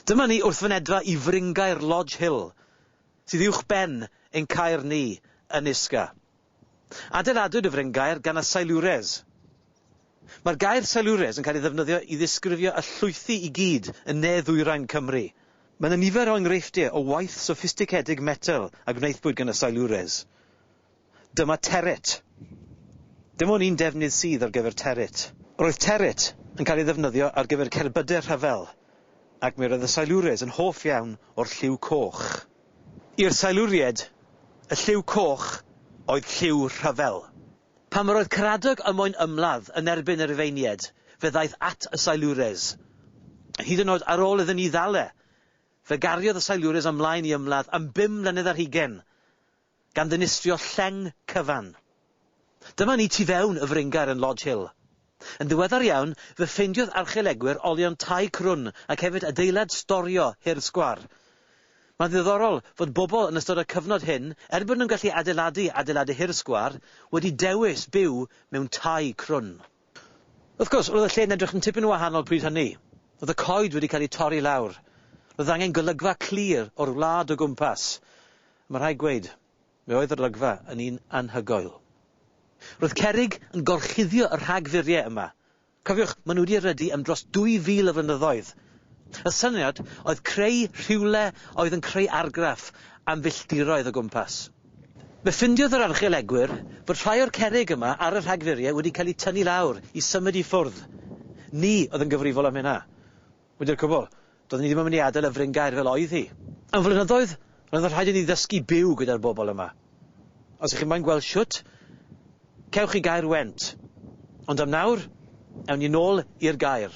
Dyma ni wrth fynedfa i fryngaer Lodge Hill, sydd uwch ben ein caer ni yn Isca. Adeiladwyd y fryngaer gan y Silures. Mae'r gair Silures yn cael ei ddefnyddio i ddisgrifio y llwythi i gyd yn ne ddwyrain Cymru. Mae yna nifer o enghreifftiau o waith soffistigedig metel a gwnaethpwyd gan y Silures. Dyma Territ. Dim ond un defnydd sydd ar gyfer Territ. Roedd Territ yn cael ei ddefnyddio ar gyfer cerbydau rhyfel ac mi roedd y Silures yn hoff iawn o'r lliw coch. I'r Siluriaid, y lliw coch oedd lliw rhyfel. Pan yr oedd Caradog ym moyn ymladd yn erbyn y Rufeiniaid, fe ddaeth at y Silures. Hyd yn oed ar ôl iddyn ni ddal e, fe gariodd y Silures ymlaen i ymladd am bum mlynedd ar hugain. gan ddinistrio lleng cyfan. Dyma ni tu fewn y fryngaer yn Lodge Hill. Yn ddiweddar iawn, fe ffeindiodd archeolegwyr olion tai crwn ac hefyd adeilad storio hir sgwâr. Mae'n ddiddorol fod bobl yn ystod y cyfnod hyn, er bod nhw'n gallu adeiladu adeiladu hir sgwâr, wedi dewis byw mewn tai crwn. Wrth gwrs, roedd y lle yn edrych yn tipyn yn wahanol pryd hynny. Roedd y coed wedi cael eu torri lawr. Roedd angen golygfa clir o'r wlad o gwmpas. A mae rhaid gweud, fe oedd yr olygfa yn un anhygoel. Roedd cerrig yn gorchuddio y rhagfuriau yma. Cofiwch, maen nhw wedi erydu am dros 2,000 o flynyddoedd. Y syniad oedd creu rhywle oedd yn creu argraff am filltiroedd o gwmpas. Fe ffindiodd yr archeolegwyr fod rhai o'r cerrig yma ar y rhagfuriau wedi cael eu tynnu lawr i symud i ffwrdd. Ni oedd yn gyfrifol am hynna. Wedi'r cwbl, doedden ni ddim yn mynd i adael y fryngaer fel oedd hi. Am flynyddoedd, roedd yn rhaid i ni ddysgu byw gyda'r bobl yma. Os ych chi moyn gweld shwt, cewch chi gaer went. Ond am nawr, ewn ni nôl i'r gaer.